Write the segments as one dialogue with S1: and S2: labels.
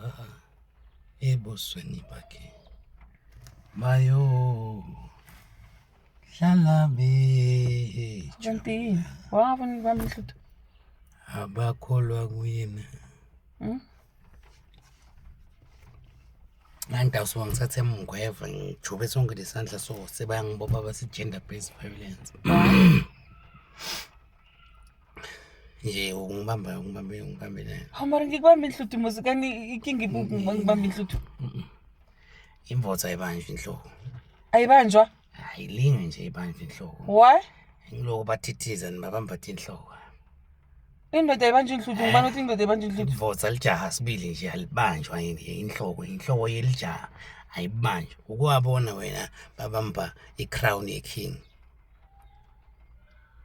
S1: Aha. Ebusweni bakhe. Mayo. Hlala be. Kanti
S2: wabona ubaba uMhluthu?
S1: Abakholwa kuyena. Hmm? Nganta usuke ngithathe mngweva ngijube sonke lesandla so sebayangibopha base gender based violence. Nje ungibamba ungibambe ungibambe nayo. Hawu mara ngikubambe
S2: inhluthu muzi kani ikinga ibuku ngiba ngibambe inhluthu.
S1: Imvotha ayibanjwa inhloko. Ayibanjwa?
S2: Ayilinge
S1: nje ibanjwa inhloko. Why?
S2: Ngiloko
S1: bathithiza nibabamba inhloko.
S2: Indoda ayibanjwa inhluthu ngibani uthi indoda ayibanjwa inhluthu? Imvotha lijaha sibili
S1: nje alibanjwa yini inhloko inhloko yelijaha ayibanjwa. Ukuwabona wena babamba i-crown ye-king.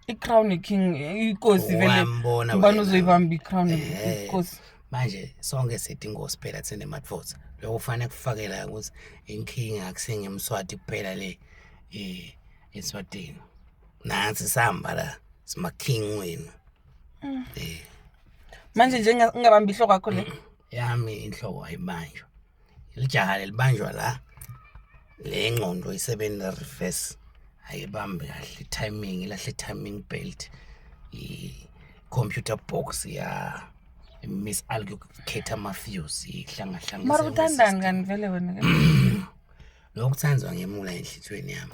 S2: i-crown king ikosi vele Wambona ubani wena. uzoyibamba i-crown Eh. ikosi manje
S1: sonke sithi inkosi phela thina emadvoza lokho kufanele kufakela ukuthi inkinga akusinge emswati kuphela le eh, eswatini nansi sihamba la simaking wenu
S2: manje nje ngingabamba ihloko yakho le yami inhloko
S1: ayibanjwa Lijaha lelibanjwa la le ngqondo isebenza reverse ayibambe kahle timing ilahle timing belt i computer box ya miss allocator mafuse ihlanga hlanga mara uthandani
S2: kanivele wena
S1: lokuthandwa ngemula enhlizweni yami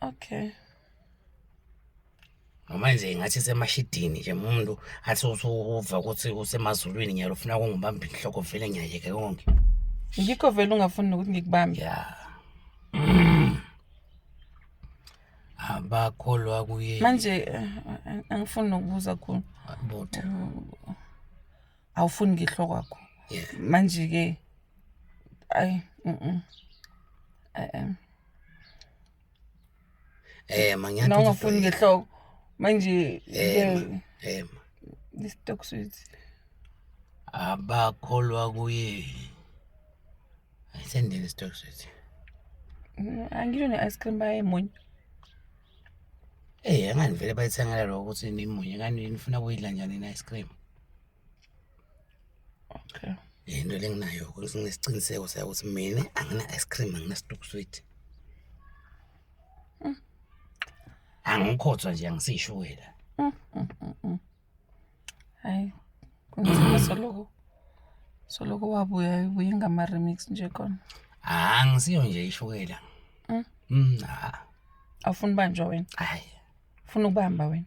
S2: Okay.
S1: Noma nje ngathi semashidini nje umuntu athi usuva ukuthi usemazulwini ngiyalo ufuna kungibamba inhloko vele ngiyayeke konke. Ngikho vele
S2: ungafuni nokuthi ngikubambe. Yeah.
S1: Abakholwa kuye. Manje eh,
S2: eh, angifuni nokubuza khona. Butha. Awufuni ngihloko kwakho. Yeah. Manje ke ayi mhm. Eh.
S1: Eh ma ngiyathi nawungafuni ngehloko
S2: manje eh eh this talk sweet abakholwa
S1: kuye ayisendeni stock sweet mm,
S2: angisho ne ice cream baye munye
S1: Eh ngani vele bayithengela lokho ukuthi nimunye kanti nifuna kuyidla njani i ice cream
S2: Okay. Into lenginayo
S1: ukuthi nginesiqiniseko sakuthi mina angina ice cream angina stock sweet. Mm. Angikhothwa nje angisishukela. Mm, mm, mm,
S2: mm. Hayi. Kunzima soloko. Soloko wabuya ubuye ngama remix nje khona. Ah ngisiyo
S1: nje ishukela. Mm. Mm. Ah.
S2: Awufuni banjwa wena. Hayi. Ufuna
S1: ukubamba
S2: wena.